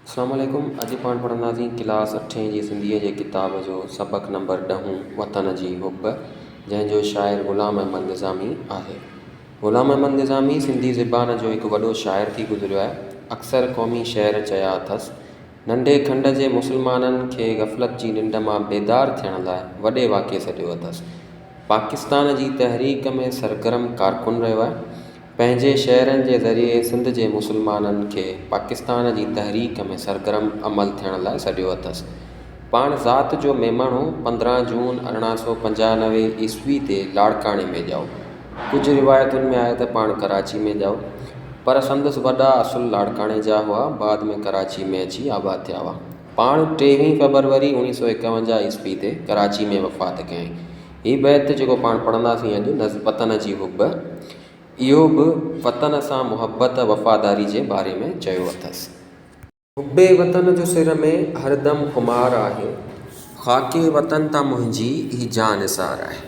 اسلام عليڪم اڄ پاڻ پڙهنداسين ڪلاس اٺين جي سنڌيء جي ڪتاب جو سبق نمبر ڏهون وطن جي حب جنهن جو شاعر غلام احمد نظامي آهي غلام احمد نظامي سنڌي زبان جو هڪ وڏو شاعر ٿي گذريو آهي اڪثر قومي شعر چيا اٿس ننڍي کنڊ جي مسلمانن کي غفلت جي ننڊ مان بيدار ٿيڻ لاء وڏي واڪي سڏيو اٿس پاڪستان جي تحريڪ ۾ سرگرم ڪارڪن رهيو آهي پنهنجي شعرن جي ذريعي سنڌ جي مسلمانن کي پاڪستان جي تحريڪ ۾ سرگرم عمل ٿيڻ لاء سڏيو اٿس. پاڻ ذات جو ميمڻ هو. پندرهن جون ارڙهن سؤ پنجانوي عيسوي تي لاڙڪاڻي ۾ ڄائو. ڪجهه روايتن ۾ آهي ته پاڻ ڪراچي ۾ ڄائو. پر سندس وڏا اصل لاڙڪاڻي جا هئا. بعد ۾ ڪراچي ۾ اچي آباد ٿيا هئا. پاڻ ٽيوهين فيبروري اوڻيهه سؤ ايڪاونجاهه عيسوي تي ڪراچي ۾ وفات ڪيائين. هي بيت جيڪو پاڻ پڙهنداسين اڄ نظم وطن جي حب اهو به وطن سان محبت وفاداري جي باري ۾ چيو اٿس حب وطن جو سر ۾ هر دم خمار آهي خاڪ وطن تان منهنجي هي جاء نثار آهي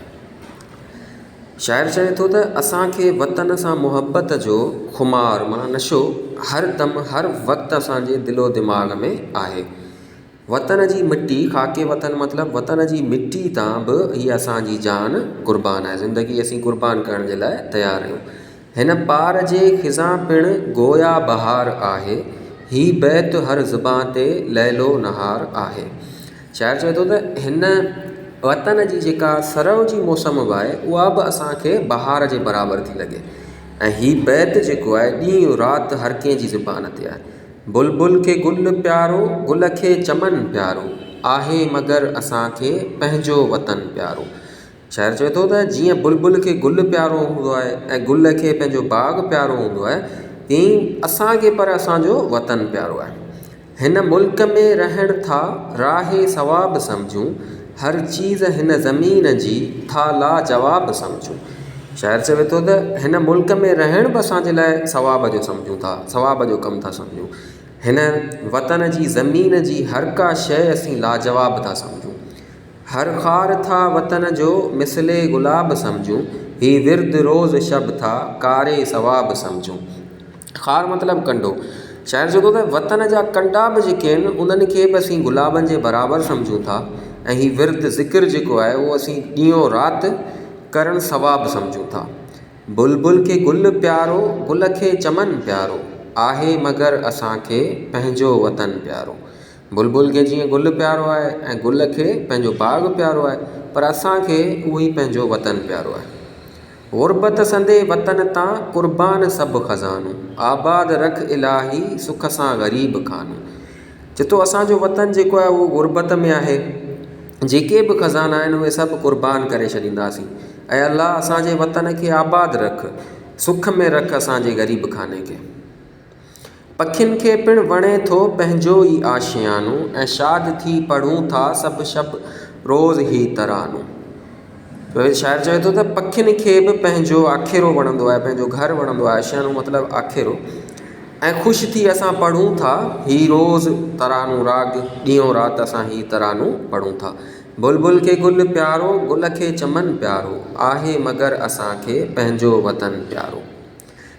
شاعر چوي ٿو ته اسان کي وطن سان محبت جو خمار معنيٰ نشو هر دم هر وقت اسان جي دل و دماغ ۾ آهي وطن جي مٽي، خاڪ وطن مطلب وطن جي مٽي تان به هي اسان جي جان قربان آهي، زندگي اسين قربان ڪرڻ جي لاء تيار آهيون. هن پار جي خزان پڻ گويا بهار آهي، هي بيت هر زبان تي ليل و نهار آهي. شاعر چوي ٿو ته هن وطن جي جيڪا سرء جي موسم به آهي اها به اسان کي بهار جي برابر ٿي لڳي ۽ هي بيت جيڪو آهي ڏينهن رات هر ڪنهن جي زبان تي آهي. بلبل کي گل پيارو، گل کي چمن پيارو، آهي مگر اسان کي پنهنجو وطن پيارو. شاعر چوي ٿو ته جيئن بلبل کي گل پيارو هوندو آهي ۽ گل کي پنهنجو باغ پيارو هوندو آهي تيئن ئي اسان کي پر اسان جو وطن پيارو آهي. هن ملڪ ۾ رهڻ ٿا راهي ثواب سمجهون، هر چيز هن زمين جي ٿا لاجواب سمجهون. شاعر چوي ٿو ته هن ملڪ ۾ رهڻ به اسان جي لاء ثواب جو سمجهون ٿا، ثواب جو ڪم ٿا سمجهون. هن وطن جي زمين جي هر ڪا شيء اسين لاجواب ٿا سمجهون. هر خار ٿا وطن جو مثل گلاب سمجهون. هي ورد روز شب ٿا ڪاري ثواب سمجهون. خار مطلب ڪنڊو شاعر چوي ٿو ته وطن جا ڪنڊا بھ جيڪي آھن انھن کي بھ اسين گلابن جي برابر سمجھون ٿا ۽ ھي ورد ذڪر جيڪو آھي اھو اسين ڏينھن و رات ڪرڻ ثواب سمجھون ٿا بلبل کي گل پيارو گل کي چمن پيارو آھي مگر اسانکي پنھنجو وطن پيارو بلبل کي جيئن گل پيارو آھي ۽ گل کي پنھنجو باغ پيارو آھي پر اسانکي اھو ئي پنھنجو وطن پيارو آھي غربت سندي وطن تان، قربان سڀ خزانو. آباد رک الاهي، سک سان غريب خانو. چتو اسان جو وطن جيڪو آهي اهو غربت ۾ آهي، جيڪي به خزانا آهن اهي سڀ قربان ڪري ڇڏينداسين. اي الله اسان جي وطن کي آباد رک، سک ۾ رک اسان جي غريب خاني کي. پکين کي پڻ وڻي ٿو پنهنجو ئي آشيانو ۽ شاد ٿي پڙهون ٿا سڀ شب روز هي ترانو. ويد شاعر چوي ٿو ته پکين کي به پنهنجو آکيرو وڻندو آهي پنهنجو گهر وڻندو آهي آشيانو مطلب آکيرو ۽ خوش ٿي اسان پڙهون ٿا هي روز ترانو راڳ ڏينهون رات اسان هي ترانو پڙهون ٿا. بلبل کي گل پيارو گل کي چمن پيارو آهي مگر اسان کي پنهنجو وطن پيارو.